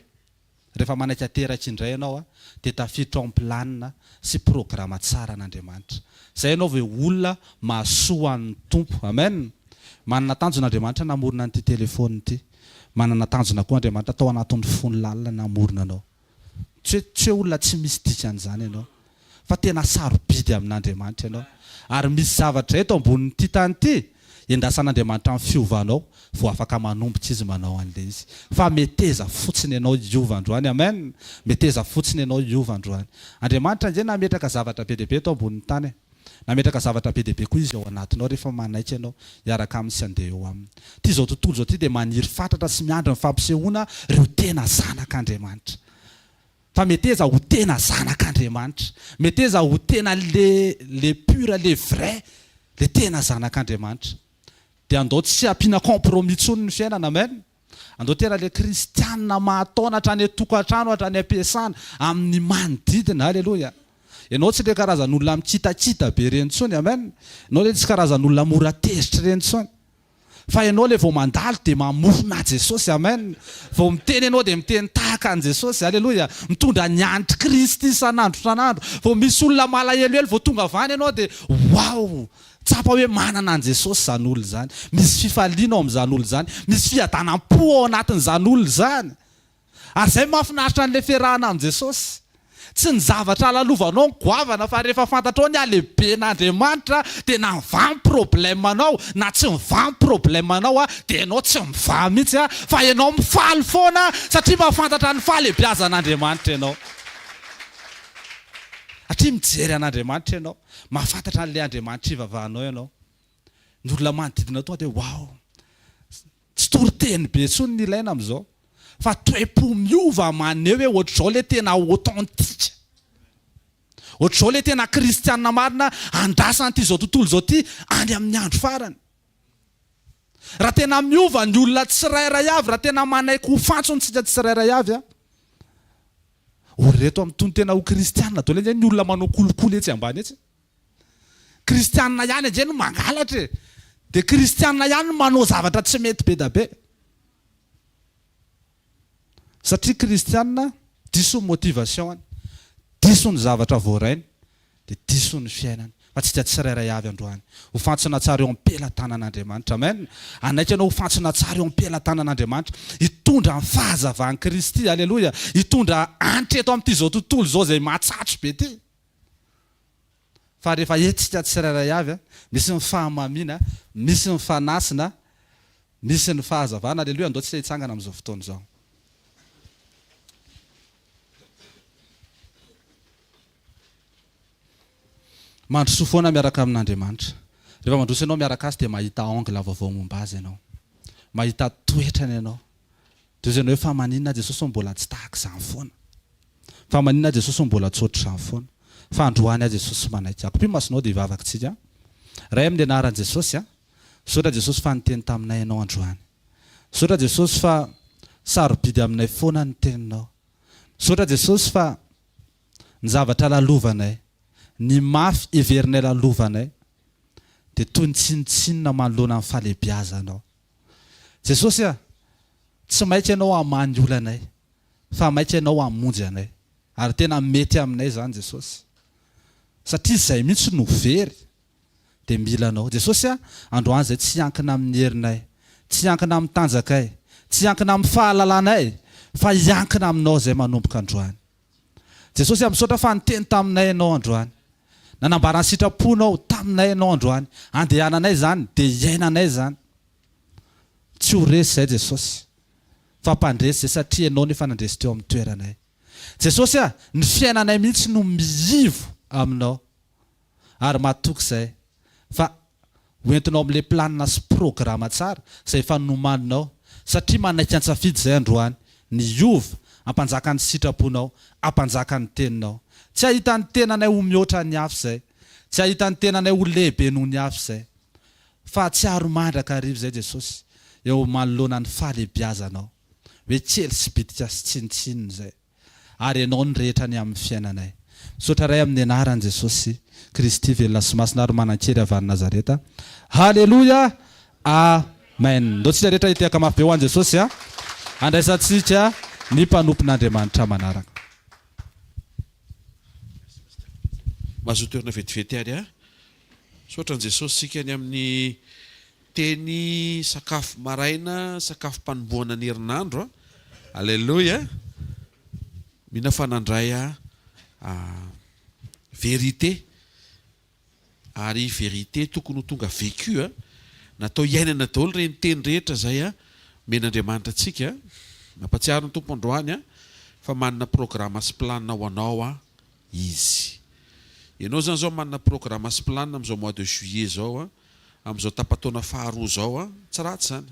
Rehefa manaiky ateraky indray ianao dia tafiditra ao amin'ny planina sy programa tsaran' Andriamanitra. Izay ianao ve olona mahasoa an'ny Tompo. Amen. Manana tanjona Andriamanitra namorona an'ity telefaonina ity. Manana tanjona koa Andriamanitra tao anatin'ny fony lalina namorona anao. Tsy hoe tsy hoe olona tsy misy dikan'izany ianao. fa tena sarobidy amin'Andriamanitra ianao. Ary misy zavatra eto ambonin'ity tany ity endasan'Andriamanitra amin'ny fiovanao vao afaka manomboka Izy manao an'ilay izy. Fa meteza fotsiny ianao hiova androany. Amen! Meteza fotsiny ianao hiova androany. Andriamanitra ange nametraka zavatra be dia be eto ambonin'ny tany e. Nametraka zavatra be dia be koa Izy ao anatinao rehefa manaiky ianao hiaraka Aminy sy handeha eo Aminy. Ity izao tontolo izao ity dia maniry fatratra sy miandry ny fampisehoana ireo tena zanak'Andriamanitra. Fa meteza ho tena zanak Andriamanitra. Meteza ho tena le le pur le vrai le tena zanak Andriamanitra. Dia andao tsy ampiana compromis tsony ny fiainana amen. Andao tena le kristianina mahataona hatrany atokatrano hatrany ampiasana amin'ny manodidina aleloia. Ianao tsy le karazan'olona mikitakita be ireny tsony amen. Ianao le tsy karazan'olona mora tezitra ireny tsony. Fa ianao ilay vao mandalo dia mamofona Jesosy Amen Vao miteny ianao dia miteny tahaka an'i Jesosy Alléluia Mitondra ny an'i Kristy isan'andro isan'andro Vao misy olona malahelohelo vao tonga avy any ianao dia Waouh Tsapa hoe manana an'i Jesosy izany olona izany Misy fifaliana ao amin'izany olona izany Misy fiadanam-po ao anatin'izany olona izany Ary izay mahafinaritra an'ilay fiarahana amin'i Jesosy. Tsy ny zavatra alalovanao ny goavana fa rehefa fantatrao ny halehiben'Andriamanitra dia na mivaha problème anao na tsy mivaha problème anao dia ianao tsy mivaha mihitsy fa ianao mifaly foana satria mahafantatra ny fahalebiazan'Andriamanitra ianao. Satria mijery an'Andriamanitra ianao. Mahafantatra an'ilay Andriamanitra ivavahanao ianao. Ny olona manodidina tonga dia wow! Tsy toriteny be intsony ny ilaina amin'izao fa toe-po miova maneho hoe ohatr'izao ilay tena authentique. Ohatr'izao ilay tena kristiana marina andrasana ity izao tontolo izao ity any amin'ny andro farany. Raha tena miova ny olona tsirairay avy, raha tena manaiky ho fantsona isika tsirairay avy, ho reto amin'ny tony tena ho kristiana daholo ange ny olona manao kolikoly etsy ambany etsy. Kristianina ihany ange no mangalatra e! Dia kristianina ihany no manao zavatra tsy mety be da be. Satria kristianina diso ny motivation-ny, diso ny zavatra voarainy, dia diso ny fiainany. Fa antsika tsirairay avy androany ho fantsona tsara eo am-pelatanan'Andriamanitra. Amen! Hanaiky ianao ho fantsona tsara eo am-pelatanan'Andriamanitra, hitondra ny fahazavan'i Kristy. Aleloia! Hitondra hanitra eto amin'ity izao tontolo izao izay mahatsatso be ity. Fa rehefa hetsika tsirairay avy, misy ny fahamamiana, misy ny fanasina, misy ny fahazavana. Aleloia, andao tsika hitsangana amin'izao fotoana izao. Mandrosoa foana miaraka amin'Andriamanitra. Rehefa mandroso ianao miaraka Azy dia mahita angle vaovao momba Azy ianao. Mahita toetrany ianao. Dia izay hoe fa maninona aho Jesosy mbola tsy tahaka izany foana? Fa maninona aho Jesosy mbola tsy ohatr'izany foana? Fa androany aho Jesosy manaiky ahy. Kopio masonao dia hivavak'tsika. Ray amin'ny anaran'i Jesosy a. Misaotra Jesosy fa niteny taminay Ianao androany. Misaotra Jesosy fa sarobidy aminay foana ny teninao. Misaotra Jesosy fa ny zavatra lalovanay, ny mafy heverinay lalovanay dia toy ny tsinontsinona manoloana ny fahalehibiazanao. Jesosy a, tsy maika Ianao hamaha ny olanay, fa maika Ianao hamonjy anay. Ary tena mety aminay izany Jesosy, satria izay mihitsy no very dia mila Anao. Jesosy a, androany izay tsy hiankina amin'ny herinay, tsy hiankina amin'ny tanjakay, tsy hiankina amin'ny fahalalanay, fa hiankina Aminao izay manomboka androany. Jesosy a, misaotra fa niteny taminay Ianao androany. Nanambara ny sitraponao taminay Ianao androany. Andehananay izany, dia iainanay izany. Tsy ho resy izay Jesosy, fa mpandresy izay satria Ianao no efa nandresy teo amin'ny toeranay. Jesosy a, ny fiainanay mihitsy no miivo Aminao. ary matoky izay fa ho entinao amin'ilay planina sy programa tsara izay efa nomaninao satria manaiky an-tsafidy izay androany ny hiova hampanjaka ny sitraponao, hampanjaka ny teninao. Tsy hahita ny tenanay ho mihoatra ny hafa izay, tsy hahita ny tenanay ho lehibe noho ny hafa izay. Fahatsiaro mandrakariva izay Jesosy eo manoloana ny fahalehibiazanao hoe kely sy bitika sy tsinontsinona izay. ary ianao ny rehetra ny amin'ny fiainanay. Misaotra Ray amin'ny anaran'i Jesosy Kristy velona sy masina ary manan-kery avy any Nazareta. Haleloia! Amen! Ndao tsika rehetra hitehaka mafy be ho an'i Jesosy a! Handraisantsika ny mpanompon'Andriamanitra manaraka. Mazotoerana vetivety ary a! Misaotra an'i Jesosy isika ny amin'ny Teny sakafo maraina sakafo panombohana ny herinandro a Alléluia Mino aho fa nandray a a vérité Ary vérité tokony ho tonga vécu a Natao hiainana daholo ireny teny rehetra izay a Omena Andriamanitra antsika Mampatsiaro ny Tompo androany a Fa manana programa sy plan ho anao a Izy Ianao izany izao manana programa sy plan amin'izao mois de juillet izao a. Amin'izao tapa-taona faharoa izao, tsy ratsy izany,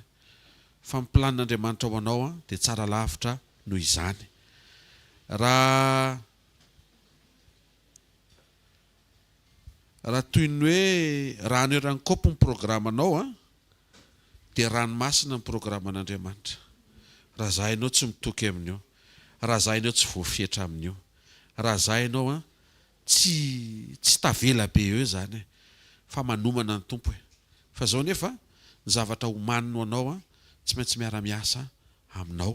fa ny planin'Andriamanitra ho anao dia tsara lavitra noho izany. Raha Raha toy ny hoe rano eran'ny kaopy ny programanao, dia ranomasina ny programan'Andriamanitra. Raha za ianao tsy mitoky amin'io, raha za ianao tsy voafetra amin'io, raha za ianao Tsy tsy tavela be eo izany e! Fa manomana ny Tompo e! Fa izao anefa ny zavatra homaniny ho anao an, tsy maintsy miara-miasa aminao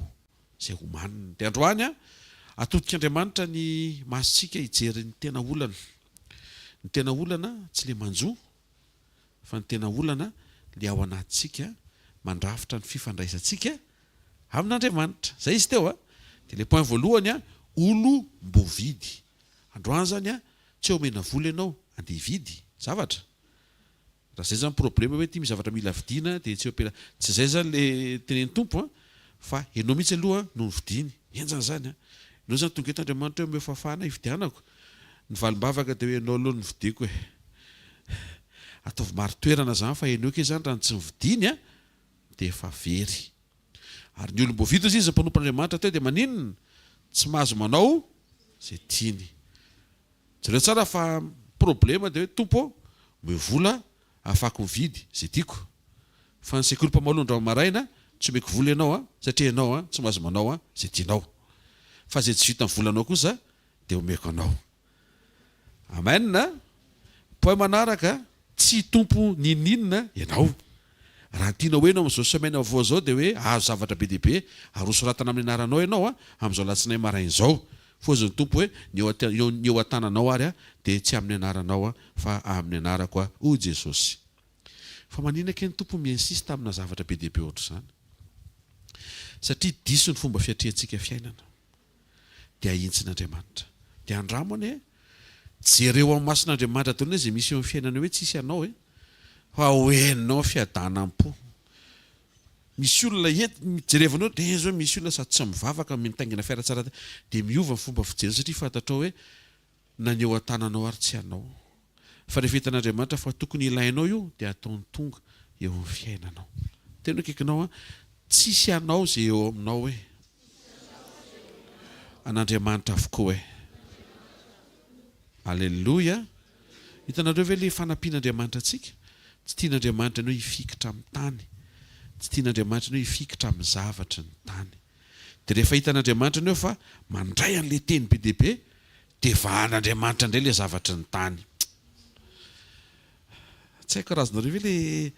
izay homaniny. Dia androany an, atodik'Andriamanitra ny masontsika hijery ny tena olana. Ny tena olana tsy ilay manjo Fa ny tena olana le ao anatintsika mandrafitra ny fifandraisantsika amin'Andriamanitra. Zay izy teo a! De le point voalohany a, olom-boavidy. Androany zany a, tsy omena vola ianao andeha hividy zavatra? Raha zay zany problema hoe ty misy zavatra mila vidiana de tsy omena, tsy zay zany le tenenin'ny Tompo a! Fa ianao mihitsy aloha no nofidiany. Henjana izany an! Ianao izany tonga eto Andriamanitra hoe omeo fahafahana hifidianako? Ny valim-bavaka dia hoe ianao aloha no nofidiako e! Ataovy marin-toerana izany fa enoiko izany raha ny tsy nifidiany an! dia efa very. Ary ny olom-boavidy hozy izy mpanompo an'Andriamanitra teo dia maninona? Tsy mahazo manao izay tiany. Jereo tsara fa ny problema dia hoe Tompo ô! Omeo vola afako mividy ze tiako fa ny sekoly mpamaolo ny rano maraina tsy omeko vola ianao a satria ianao a tsy mahazo manao a ze tianao fa ze tsy vitan'ny volanao kosa de omeko anao amen a poème manaraka tsy hitompo ninoninona ianao raha ny tianao ho heno amin'izao semaine vaovao izao de hoe azo zavatra be dia be ary hosoratana amin'ny anaranao ianao a amin'izao alatsinainy maraina izao Foza ny Tompo hoe, ny eo, ny eo an-tananao ary aho dia tsy amin'ny anaranao aho fa amin'ny anarako aho, hoy Jesosy. Fa maninona kay ny Tompo mi-insiste amina zavatra be dia be ohatr'izany? Satria diso ny fomba fiatrihantsika fiainana. Dia ahitsiny Andriamanitra. Dia andramo anie e! Jereo amin'ny mason'Andriamanitra daholo anie izay misy eo amin'ny fiainanao hoe tsisy anao e! Fa ho henonao ny fiadanam-po. Misy olona hety jerevana hoe teiza hoe misy olona sady tsy mivavaka mitaingina fiara tsara taiza dia miova ny fomba fijeriny satria fantatrao hoe na ny eo an-tananao ary tsy anao fa rehefa hitan'Andriamanitra fa tokony ilainao io dia ataony tonga eo amin'ny fiainanao teny akaikinao an tsisy anao izay eo aminao hoe an'Andriamanitra avokoa hoe Alléluia Hitanareo ve ilay fanampian'Andriamanitra antsika? Tsy tian'Andriamanitra ny hoe hifikitra amin'ny tany. Tsy tian'Andriamanitra ny hoe hifikitra amin'ny zavatry ny tany. Dia rehefa hitan'Andriamanitra ny hoe fa mandray an'ilay teny be dia be, dia vahan'Andriamanitra indray ilay zavatry ny tany. Tsy haiko raha azonareo ve ilay,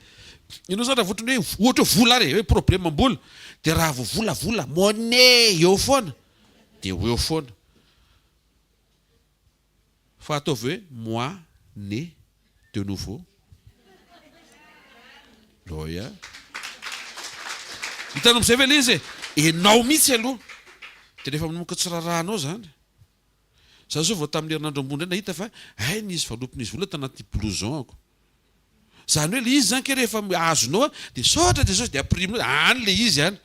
ianao izany raha vao ohatran'ny hoe, ohatra hoe vola ary e, hoe problemam-bola. Dia raha vao vola, vola, money, eo foana. Dia ho eo foana. Fa ataovy hoe moi né de nouveau. Oia. Hitanao amizay ve le izy e. Enao mihitsy aloha de rehefa manomboka tsy rarahanao zany. Za zao vao tamin'ny herinandro ambony indray nahita fa hay nisy valopy nisy vola tanaty blouson ako. Zany hoe le izy zany kay rehefa azonao a de saotra Jesosy de apirimina hoe any le izy any.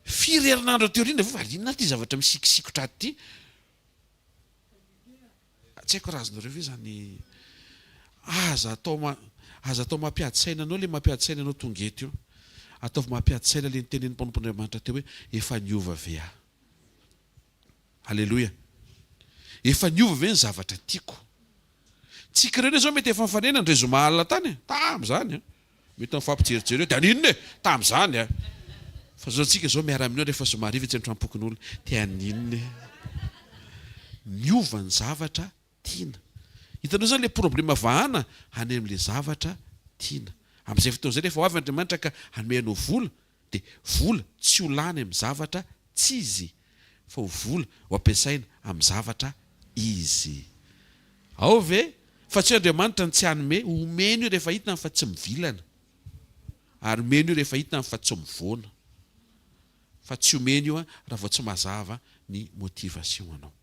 Firy herinandro aty aoriana vao valiana ary ty zavatra misikisikotra aty ty. Tsy haiko raha azonareo ve zany Aza atao Aza atao mampiady saina anao le mampiady saina anao tonga eto io Ataovy mampiady saina le nitenenin'ny mpanompon'Andriamanitra teo hoe efa niova ve aho Aleloia Efa niova ve ny zavatra tiako Tsika ireny izao mety efa nifanena indray zoma alina tany e! Tamin'izany a! Mety mifampijerijery eo, dia haninona e! Tamin'izany a! Fa izao tsika izao miara mihinana rehefa zoma hariva etsy an-tranom-pokonolona, dia haninona e! Miova ny zavatra tiana. Hitanao izany ilay problema vahana any amin'ilay zavatra tiana. Amin'izay fotoana izay rehefa ho avy Andriamanitra ka hanome anao vola, Dia vola tsy ho lany amin'ny zavatra tsy izy, fa ho vola ho ampiasaina amin'ny zavatra izy. Ao ve? Fa tsy hoe Andriamanitra no tsy hanome, omeny io rehefa hitany fa tsy mivilana, ary omeny io rehefa hitany fa tsy mivoana, fa tsy omeny io raha vao tsy mazava ny motivation-nao.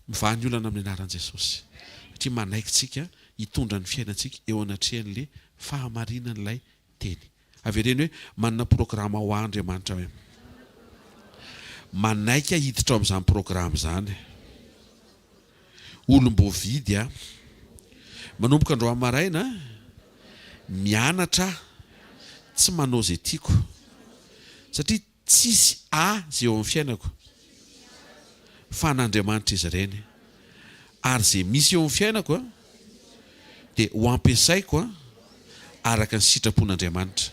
Mivaha ny olana amin'ny anaran'i Jesosy satria manaiky tsika hitondra ny fiainantsika eo anatrehan'le fahamarinan'ilay teny. Avereno hoe manana programa hoa Andriamanitra hoe manaiky aho hiditra ao amin'izany programa izany. Olom-boavidy aho. Manomboka androany maraina mianatra aho tsy manao izay tiako satria Tsisy azy eo amin'ny fiainako fa an'Andriamanitra izy ireny. Ary izay misy eo amin'ny fiainako dia ho ampiasaiko araka ny sitrapon'Andriamanitra.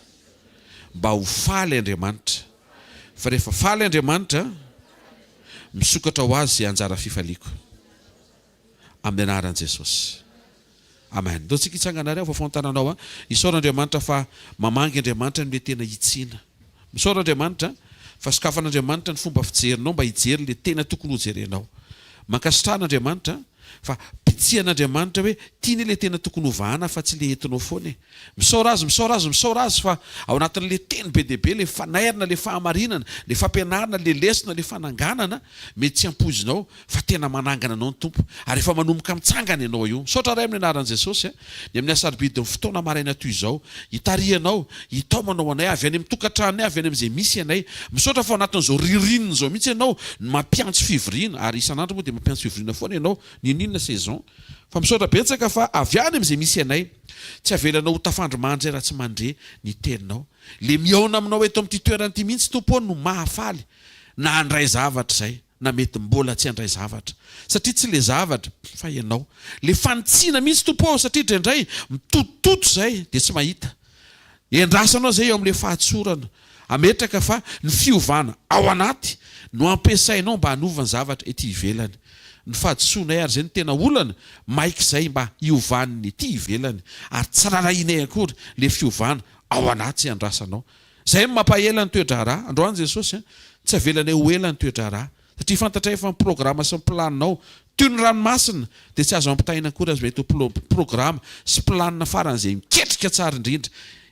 Mba ho faly Andriamanitra. Fa rehefa faly Andriamanitra, misokatra ho Azy izay anjara fifaliako. amin'ny anaran'i Jesosy. Amen. Ndao tsika hitsangana ary aho vafaho ny tananao a. Isaora Andriamanitra fa mamangy Andriamanitra ny hoe tena hitsiana. Misaora Andriamanitra fa sokafan'Andriamanitra ny fomba fijerinao mba hijery ilay tena tokony hojerenao. Mankasitrahana Andriamanitra fa bitsihan'Andriamanitra hoe tiany ilay tena tokony hovahana fa tsy ilay entinao foana e. Misaora azy, misaora azy, misaora azy fa ao anatin'ilay teny be dia be, ilay fanairana, ilay fahamarinana, ilay fampianarana, ilay lesona, ilay fananganana, mety tsy ampoizinao fa tena manangana anao ny Tompo ary efa manomboka mitsangana ianao io. Misaotra Ray amin'ny anaran'i Jesosy a, ny amin'ny asarobidin'ny fotoana maraina toy izao, hitarihanao, hitaomanao anay avy any amin'ny tokantranonay, avy any amin'izay misy anay. Misaotra fa ao anatin'izao ririnina izao mihitsy ianao no mampiantso fivoriana ary isan'andro moa dia mampiantso fivoriana foana ianao, n'inon'inona saison, fa misaotra betsaka fa avy any amin'izay misy anay. Tsy avelanao ho tafandry mandre raha tsy mandre ny teninao. Le mihaona aminao eto amin'ity toerana ity mihitsy Tompo ô no mahafaly na handray zavatra izay na mety mbola tsy handray zavatra satria tsy le zavatra fa ianao le fanitsiana mihitsy Tompo ô satria dre ndray mitotototo izay de tsy mahita Endrasanao izay eo amin'ilay fahatsorana. Ametraka fa ny fiovana ao anaty no ampiasainao mba hanova ny zavatra ety ivelany. Ny fahadisoanay ary izay no tena olana, maika izay mba hiovan'ny ety ivelany ary tsy rarahianay akory ilay fiovana ao anaty andrasanao. Izay no mampaela ny toe-draharaha. Androany Jesosy an! Tsy avelanay ho ela ny toe-draharaha. satria fantatra efa ny programa sy ny planinao, toy ny ranomasina dia tsy azo ampitahaina akory aza mety ho programa sy planina faran'izay miketrika tsara indrindra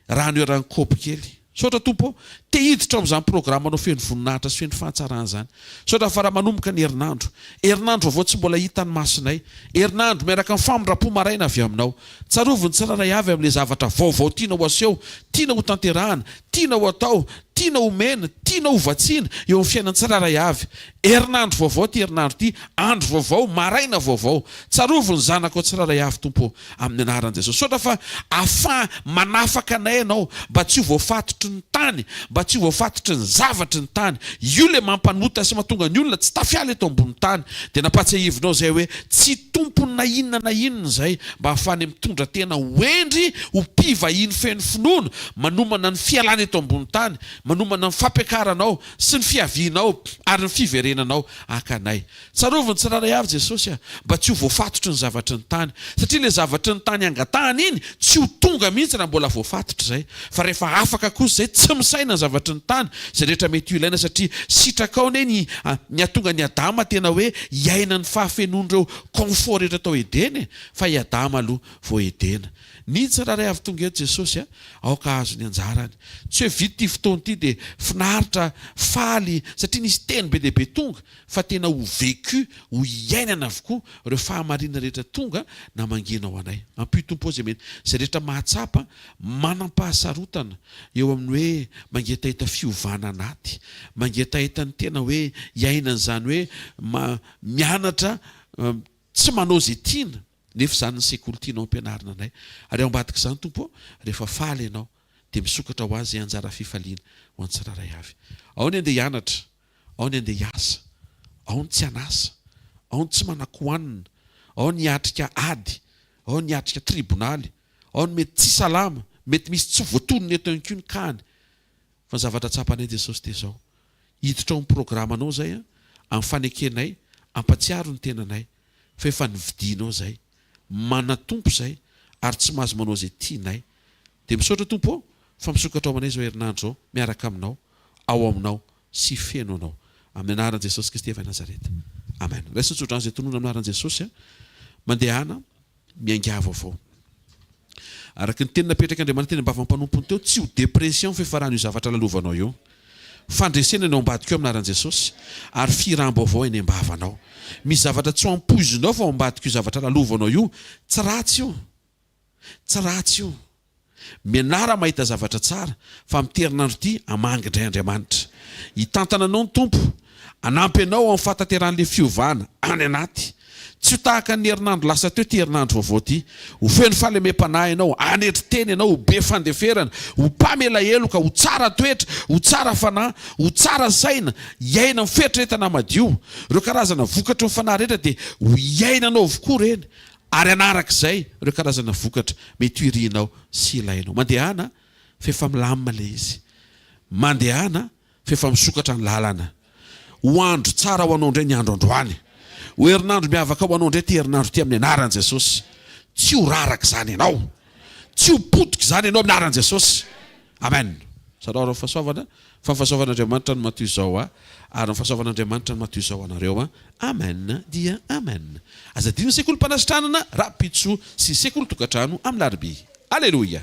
raha ny heran'ny kopy kely. Misaotra Tompo ô! Te hiditra ao amin'izany programanao feno voninahitra sy feno fahatsarana izany. Misaotra fa raha manomboka ny herinandro. Herinandro vaovao tsy mbola hitan'ny masonay. Herinandro miaraka amin'ny famindram-po maraina avy aminao. Tsarovy ny tsirairay avy amin'ilay zavatra vaovao tiana ho aseho, tiana ho tanterahana, tiana ho atao, tiana omena, tiana ho vatsiana eo amin'ny fiainan'ny tsirairay avy. Herinandro vaovao ity herinandro ity, andro vaovao, maraina vaovao. Tsarovy ny zanakao tsirairay avy, Tompo ô, amin'ny anaran'i Jesosy. Misaotra fa ahafaha manafaka anay Ianao mba tsy ho voafatotry ny tany, mba tsy ho voafatotry ny zavatry ny tany. Io ilay mampanota sy mahatonga ny olona tsy tafiala eto ambonin'ny tany. Dia nampahatsiahivinao izay hoe Tsy tompony na inona na inona izay mba hahafahany mitondra tena ho hendry ho mpivahiny feno finoana, manomana ny fialana eto ambony tany, manomana ny fampiakaranao sy ny fiavianao ary ny fiverenanao haka anay. Tsarovy ny tsirairay avy Jesosy a! Mba tsy ho voafatotry ny zavatry ny tany, satria ilay zavatry ny tany angatahany iny tsy ho tonga mihitsy raha mbola voafatotry izay. Fa rehefa afaka kosa izay, tsy misaina ny zavatry ny tany, izay rehetra mety ho ilaina, satria sitraka ao anie ny hahatonga an'i Adama tena hoe hiaina ny fahafenoan'ireo confort rehetra tao Edena e! Fa i Adama aloha vao Edena. Ny tsirairay avy tonga eto Jesosy aoka hahazo ny anjarany. Tsy hoe vita ity fotoana ity dia finaritra, faly satria nisy teny be dia be tonga, fa tena ho vécu, ho iainana avokoa ireo fahamarinana rehetra tonga na mangina ho anay. Ampio Tompo ao izay mety, izay rehetra mahatsapa Manam-pahasarotana eo amin'ny hoe mangetaheta fiovana anaty, mangetaheta ny tena hoe hiaina an'izany hoe mianatra tsy manao izay tiana nefa izany ny sekoly tianao ampianarina anay ary ao ambadik'izany Tompo ô rehefa faly ianao dia misokatra ho Azy izay anjara fifaliana ho an'ny tsirairay avy. Ao ny andeha hianatra, ao ny andeha hiasa, ao ny tsy an'asa, ao ny tsy manan-kohanina, ao ny hiatrika ady, ao ny hiatrika tribonaly, Ao ny mety tsy salama, mety misy tsy voatonona eto ihany koa ny kahany. Fa ny zavatra tsapanay Jesosy dia izao, hiditra ao amin'ny programanao izay an, amin'ny fanekenay, ampatsiaro ny tenanay fa efa nividianao izay, manan-tompo izay ary tsy mahazo manao izay tianay. Dia misaotra Tompo ô fa misokatra ao amanay izao herinandro izao miaraka aminao, ao aminao sy feno anao. Amin'ny anaran'i Jesosy Kristy avy Nazareta. Amen. Raiso tsodrano izay tonona amin'ny anaran'i Jesosy an. Mandehana. miaingavo avao. Araka ny teny napetrak'Andriamanitra teny am-bavan'ny mpanompony teo, tsy ho depression fiafaran' io zavatra lalovanao io. Fandresena ny ao ambadika ao amin'aran'i Jesosy, ary fihiràm-baovao eny am-bavanao. Misy zavatra tsy ho ampoizinao fa ao ambadik'io zavatra lalovanao io, tsy ratsy io. Tsy ratsy io. Mianara mahita zavatra tsara, fa amin'ity herinandro ity, hamangy indray Andriamanitra. Hitantana anao ny Tompo, hanampy anao amin'ny fahatanteran'ilay fiovana any anaty. Tsy ho tahaka ny herinandro lasa teo ity herinandro vaovao ity. Ho feno fahalemem-panahy ianao, hanetry tena ianao, ho be fandeferana, ho mpamela heloka, ho tsara toetra, ho tsara fanahy, ho tsara saina, hiaina amin'ny fieritreretana madio. Ireo karazana vokatry ny fanahy rehetra dia ho iainanao avokoa ireny. Ary hanaraka izay ireo karazana vokatra mety ho irinao sy ilainao. Mandehana fa efa milamina ilay izy. Mandehana fa efa misokatra ny lalana. Ho andro tsara ho anao indray ny andro androany. Ho herinandro miavaka ho anao indray ity herinandro ity amin'ny anaran'i Jesosy. Tsy ho raraka izany ianao. Tsy ho potika izany ianao amin'ny anaran'i Jesosy. Amen! Zarao ary ny fahasoavana, fa ny fahasoavan'Andriamanitra no matoy izao ahy, ary ny fahasoavan'Andriamanitra no matoy izao anareo. Amen dia Amen! Aza adino ny sekolim-panasitranana rahampitso sy ny sekolin-tokantrano amin'ny larobia. Aleloia!